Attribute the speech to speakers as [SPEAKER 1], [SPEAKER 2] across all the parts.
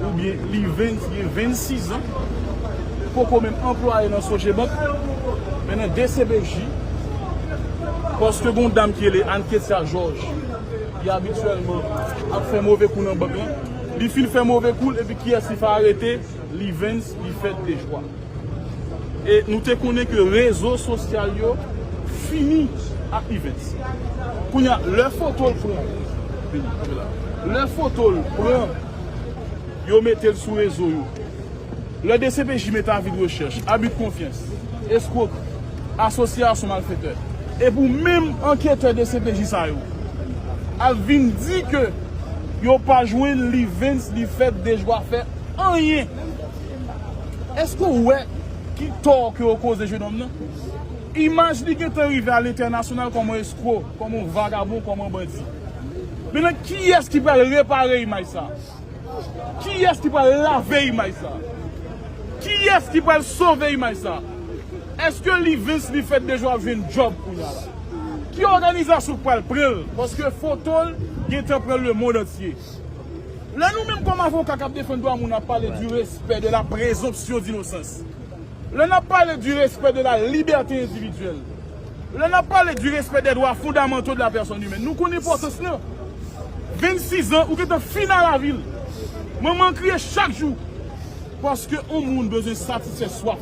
[SPEAKER 1] Oubyen li vin gen 26 an, poko menm anplwaye nan Sogebank, men nan dcpj, paske gen yon dam ki rele Anne Ketsia Georges ki abityèlman ap fè move kou nan bank lan, li fin fè move kou l epi kiyès li fè arete? Livens Lifèt Dejwa. E nou te konnen ke rezo sosyal yo fini ak Yvens. Kounye a, lè foto l pran, vini, kanpe la. Lè foto l pran, yo mete l sou rezo yo. Lè dcpj mete avi de rechèch, abi de konfyans, eskwokri, asosyasyon malfetè, e pou menm anketè dcpj sa yo al vin di ke yo pa jwenn Lyvens li fèt dejwa fè anyen. Èske ou wè ki tò ke ou koze jèn òm nan? Imaj li gentan rive a lentènasyonal kòm on eskro, kòm on vagabon, kòm on bandi. Mennen kiyès ki pral repare imaj sa? Kiyès ki pral lave imaj sa? Kiyès ki pral sove imaj sa? Èske Livens li fèt deja ap jwenn djòb kounya la? Ki òganizasyon ki pral pran l? Paske foto l gentan pran lemond antye. Lè nou menm kòm avoka k ap defann dwa moun ap pale di respè de la prezonpsyon dinosans, lè n ap pale di respè de la libète endividyèl, lè n ap pale di respè dè dwa fondamanto de la pèsòn imèn, nou konn enpòtans lan. Vennsizan ou gentan fin a lavi l. Manman an kriye chak jou paske on moun bezwen satisfè swaf.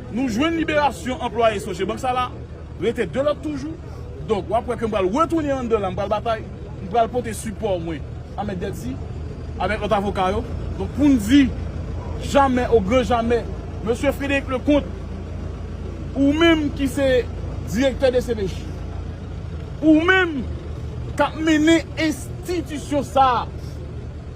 [SPEAKER 1] Nou jwenn liberasyon anplwaye Sogebank sa la, rete 2 lòt toujou. Donk wap wè ke m pral retounen anndan la, m pral batay, m pral pote sipò mwen a Mèt Dèdi avèk lòt avoka yo. Donk pou n di jamè o gran jamè, Mesye Frédéric Leconte, ou menm ki se direktè dcpj, ou menm kap mennen enstitisyon sa a,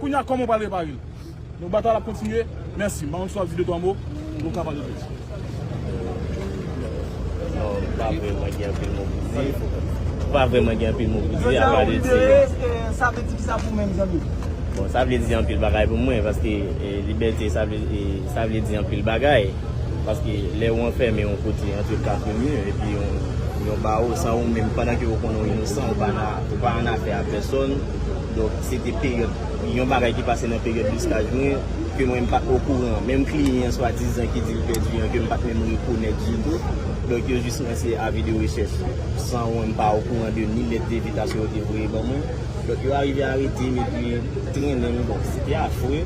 [SPEAKER 1] Kounya koman ou pral reparel. Donk batay la ap kontinye. Merci. M pa konn si w ap di 2 3 mo. Ou ka pale plis. Non m pa vreman gen anpil mo
[SPEAKER 2] pou di. M pa vreman gen anpil mo pou di. Jodi a ou libere eske
[SPEAKER 3] sa vle di kisa pou menm zanmi m? Bon sa vle di
[SPEAKER 2] anpil bagay pou mwen. Paske libète sa vle di anpil bagay. Paske lè ou anfème yon kote antre 4 mi. Epi yon bawo san ou menm pandan ke ou konnen ou inosan. Ou pa an afè a pèsòn. Donk se te peryòd, yon bagay ki pase nan peryòd listaj mwen, ke mwen m pat okouran. Menm kliyan swadizan ki di l pèdi an ke m pat menm rekonèt ditou. Donk yo jis lanse avi de rechèch san mwen m pa okouran de ni lèt devitasyon yo te voye ban mwen. Donk yo arive arete m epi trennen m. Bon, se te afre,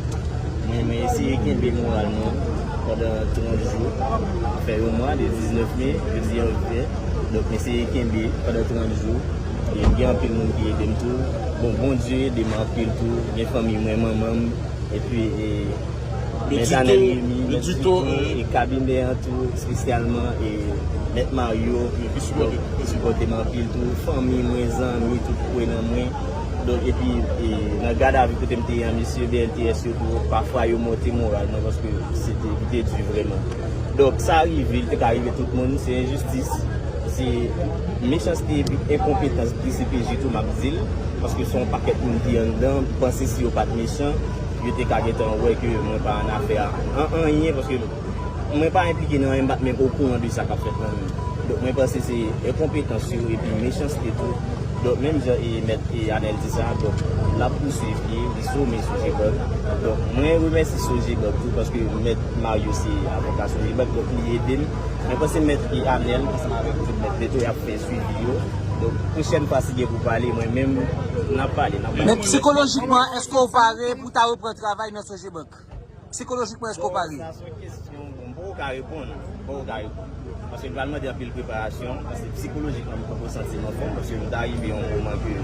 [SPEAKER 2] men mwen eseye kenbe moral mwen pandan 30 jou. Fè yon mwa, de 19 me, jodi an rive. Donk m eseye kenbe pandan 30 jou. Ebyen gen anpil moun ki edem tou bon Bondye edem anpil tou gen fanmiy mwen manmanm epi mèzanèm Remy
[SPEAKER 1] mèt Tito e kabinè an
[SPEAKER 2] tou espesyalman e mèt Mario ki sipotem anpil tou fanmiy mwen zanmi tout ki kwe nan mwen donk epi nan gad avi kotem te ye an mesye BLTS yo tou pafwa yo monte moral mwen paske li te di vreman donk sa rive li te ka rive tout moun se enjistis. Se mechanste epi enkonpetans dcpj tou map dil paske son pakèt moun ki anndan panse si yo pat mechan yo te ka gentan wè ke mwen pa annafè a an anyen paske mwen pa enplike nan anyen mpat menm okouran de sa kap fèt nan menm donk mwen panse se enkonpetans yo epi mechanste tou donk menm jan e mèt e anèl di sa donk lap pouswiv pye li some sogebank donk mwen remèsi sogebank tou paske mèt mario se avoka sogebank donk li edem. Mwen panse mèt e Amel ansanm avèk tout mèt Beto yap fè swivi yo donk pwochèn fwa si gen pou pale mwen menm nan pale nan pale. Men psikolojikman
[SPEAKER 3] eske w pare pou w ta repran travay nan Sogebank? Psikolojikman eske w pare? Sa son
[SPEAKER 2] kesyon bon mpoko ka reponn, mpoko ka reponn. Paske li pral mande anpil preparasyon, paske psikolojikman mpoko santi m anfòm paske m ta rive yon moman ke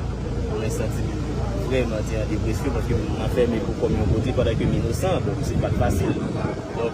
[SPEAKER 2] mwen santi m vrèman te an depresyon paske m anfème pou kòm yon kote pandan ke m inosan donk se pat fasil.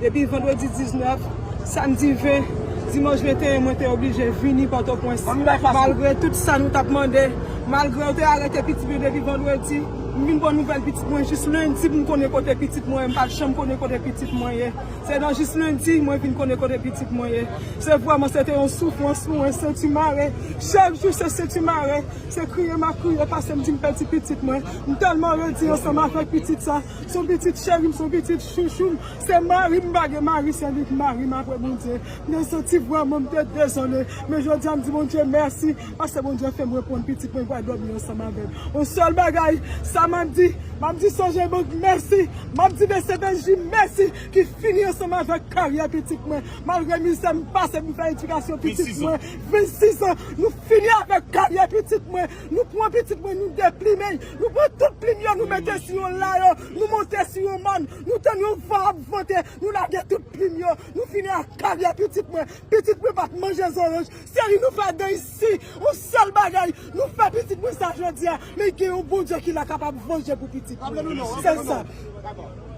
[SPEAKER 4] Depi vandredi 19, samdi 20, dimanch 21 mwen te oblije vini Pòtopwens. Malgre tout sa nou t ap mande, malgre yo te arete pitit nou depi vandredi, m vin pran nouvèl pitit mwen jis lendi pou m konnen kote pitit mwen ye. M pa t janm konnen kote pitit mwen ye. Se nan jis lendi mwen vin konnen kote pitit mwen ye. Se vrèman se te yon soufrans pou mwen, senti mare. Chak jou se senti mare. Se kriye m ap kriye pase m di m pèdi pitit mwen. M tèlman redi ansanm avèk pitit sa. Son pitit cherim son pitit chouchoum se marim m pa gen mari se lik marim aprè Bondye nan son ti vwa mwen m te dezole men jodia m di Bondye mèsi paske Bondye fèm reprann pitit mwen pral dòmi ansanm avèl on sèl bagay sa map di map di sonje bank mèsi map di mesye Bendji mèsi ki fini ansanm avèk karyè pitit mwen malgre mizè m pase pou m fè edikasyon pitit mwen 26 ans nou fini avèk karyè pitit mwen. Nou pran pitit mwen nou deplimen l, nou pran tout plim yo nou mete sou yon layon, nou monte sou yon mòn, nou tann yon van ap vante, nou lage tout plim yo, nou fini ak karyè pitit mwen. Pitit mwen pa t manje zoranj, se ri nou fè dèy si yon sèl bagay nou fè pitit mwen sa jodi a, men gen yon Bondye ki la k ap vanje pou pitit mwen. Se sa.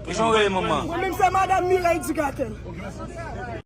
[SPEAKER 3] Mwen
[SPEAKER 4] menm se Madam Mireille
[SPEAKER 3] Dugatelle.